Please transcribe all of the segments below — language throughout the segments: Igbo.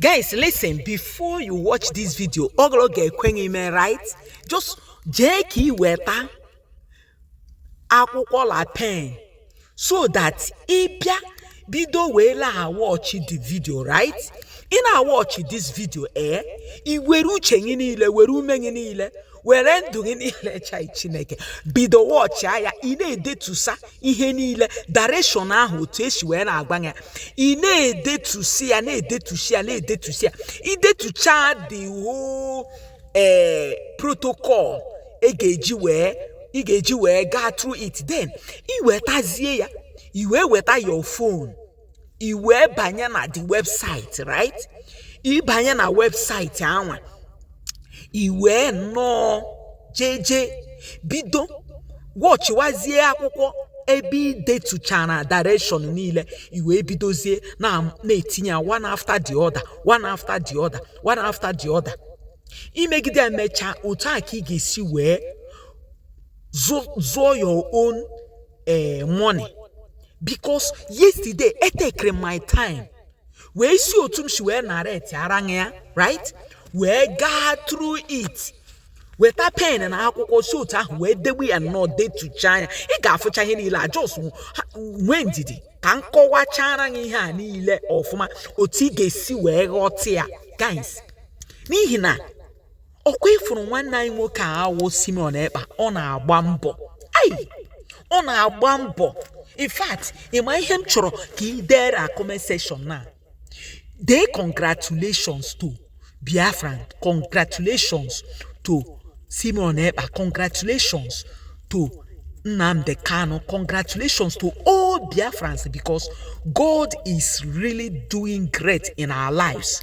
guys listen before you watch this video ọ bụrụ ga-ekwe ime right just jee ka ị weta akwụkwọ la pen so that ị bịa bido wee la-awọchị the video right ị na-awọchị this video ee eh? i were uche gị niile were ume gị niile were ndụ gị niile chai chineke bido wọchịa ya ị na-edetusa ihe niile direction ahụ otu e si wee na-agba ya ị na-edetusi ya na-edetusi ya na-edetusi ya i detucha the whole ee protocol ị ga-eji wee ị ga-eji wee gaa through it then i wetazie ya i wee weta your phone i wee banye na the website right ị banye na website anwa i wee nọọ jeje bido wọchịwazie akwụkwọ ebe i detuchara direction niile i wee bidozie na na-etinye ya one after the other one after the other one after the other i megide emechaa otu a ka ị ga-esi wee zụ zụọ your own eh, money because yesterday etekere my time wee si otu m si wee naretiara gị ya right wee gaa through it weta pen na akwụkwọ si otu ahụ wee debe ya nnọọ detucha ya ị ga-afụcha ihe niile a just nwee ndidi ka m kọwachaara gị ihe a niile ọfụma otu ị ga-esi wee ghọta ya guys n'ihi na ọkwa ị fụrụ nwanne anyị nwoke a wụ Simeon Ekpa ọ na-agba mbọ ai ọ na-agba mbọ in fact ị ma ihe m chọrọ ka ị dere na comment section na dee congratulations to Biafran congratulations to Simeon Ekpa congratulations to Nnamdi Kanu congratulations to all Biafrans because God is really doing great in our lives.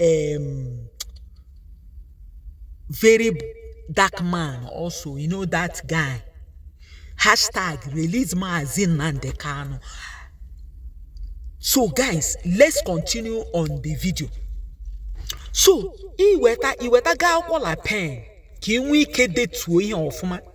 um, very dark man also you know that guy hashtag release Mazi Nnamdi Kanu so guys let's continue on the video so i wetago akwụkwọ la pen ka ị nwee ike detuo ihe ọfụma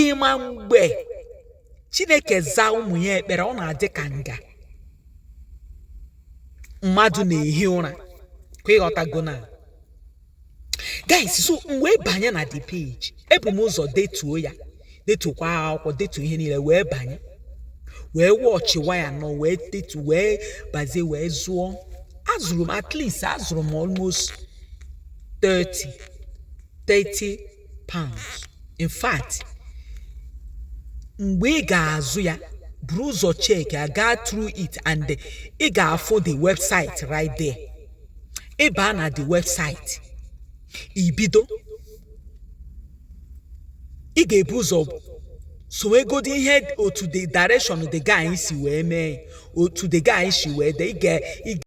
ị ma mgbe chineke zaa ụmụ ya ekpere ọ na-adị ka nga mmadụ na-ehi ụra kwa ị ghọtago na guys so m wee banye na the page ebu m ụzọ detuo ya detukwa akwụkwọ detu ihe niile wee banye wee wọchịwa ya nọ wee detu wee bazie wee zụọ azụrụ m at least azụrụ m almost 30 30 pounds in fact mgbe ị ga-azụ ya buru ụzọ cheki ya gaa through it and ị ga-afụ the website right there ị baa na the website i bido ị ga-ebu ụzọ sowegodi ihe otu the direction the guy si wee mee otu the guy si wee dee ị